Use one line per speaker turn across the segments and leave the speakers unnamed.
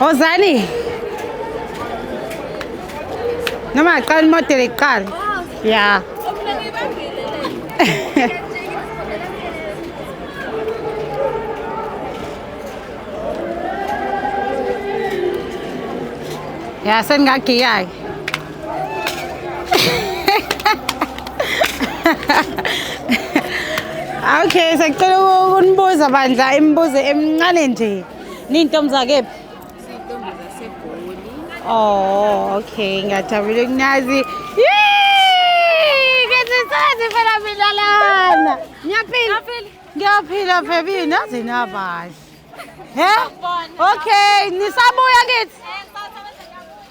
Ozani. Noma aqala imodeli iqala. Yeah. Ya sengagiya-ke. okay sacela ukunibuza bandla imibuzo emincane nje niyintombi zakephi siyintombi
zasegoli oh
okay ngiyajabula ukunazi kazisazi phela milalana ngiyaphila ngiyaphila baby naze nabahle He? Okay, nisabuya kithi.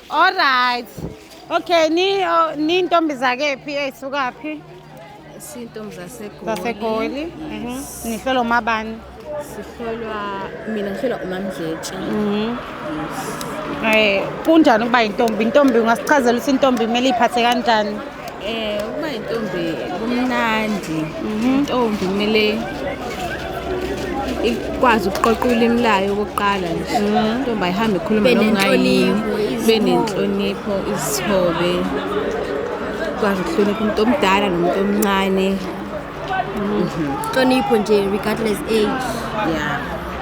All right. Okay, ni oh, ni ntombi zakephi eyisukaphi? Sintombi
zaseGoli. Zasegoli.
Mhm. Nihlolo umabani? Sihlolwa
mina ngihlolwa uMamdletshe. Mhm.
Eh, kunjani ukuba intombi? Intombi ungasichazela ukuthi intombi kumele iphathe kanjani? Eh uma
intombi kumnandi intombi kumele ikwazi ukuqoqa ulimi layo okokuqala nje intombi ayihambe ikhuluma Ibe noma ngayini nenhlonipho, ibe izithombe. nenhlonipho izithobe ikwazi ukuhlonipha umuntu omdala nomuntu omncane
hlonipho nje regardless
age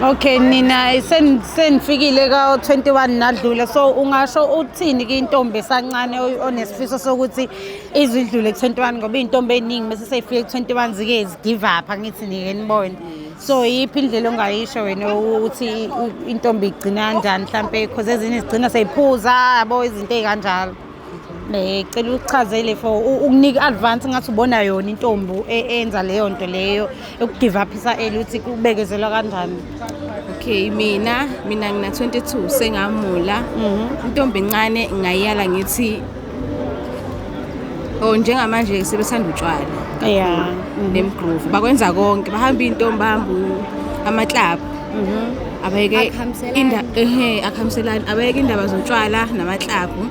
Okay nina
sen- senifikile ka 21 nadlula so ungasho uthini kintombi esancane oy- onesifiso sokuthi izidlule ku 21 ngoba intombi eningi mase seyifike ku 21 zike zi give up angithi nike nibone so yiphi indlela ongayisho wena ukuthi i- i- intombi igcina kanjani mhlambe because ezinye zigcina seyiphuza yabo izinto ezikanjalo Eh, cela uchazelile for ukunika advance ngathi ubona yona intombi e, enza leyo nto leyo ukugive up isa early uthi kubekezelwa kanjani okay
mina mina ngina 22 sengamula mhm. intombi incane ngayala ngithi oh njengamanje sebesanda utshwala yeah
nemgroove
bakwenza konke bahamba intombi hamba ama club Mhm. Abayeke Akhambiselani. inda ehe akhambiselani abayeke indaba zotshwala namaklabhu.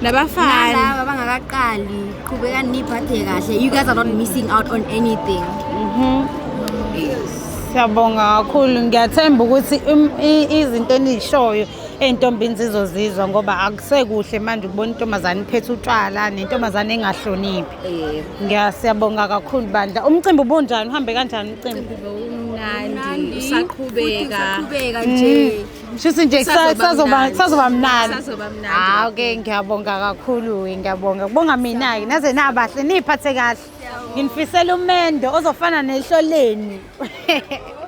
Nabafana Nalaba bangakaqali
qhubekani niphathe kahle you guys are not missing out on anything
Siyabonga kakhulu ngiyathemba ukuthi im- i- izinto enizishoyo ey'ntombini zizozizwa ngoba akusekuhle manje ukubona intombazane iphethe utshwala nentombazane engahloniphi. Eh, ngiyasiyabonga kakhulu bandla. Umcimbi ubunjani? Uhambe kanjani umcimbi? Mnandi
usaqhubeka. Qhubeka Mm.
nje. Shuthi nje kusa- Kusazoba
kusazoba mnandi. kusazoba mnandi. Kusazoba
mnandi. Ah okay
ngiyabonga kakhulu we, ngiyabonga. Kubonga mina ke naze nabahle niphathe kahle. Nginifisela umendo ozofana nehloleni.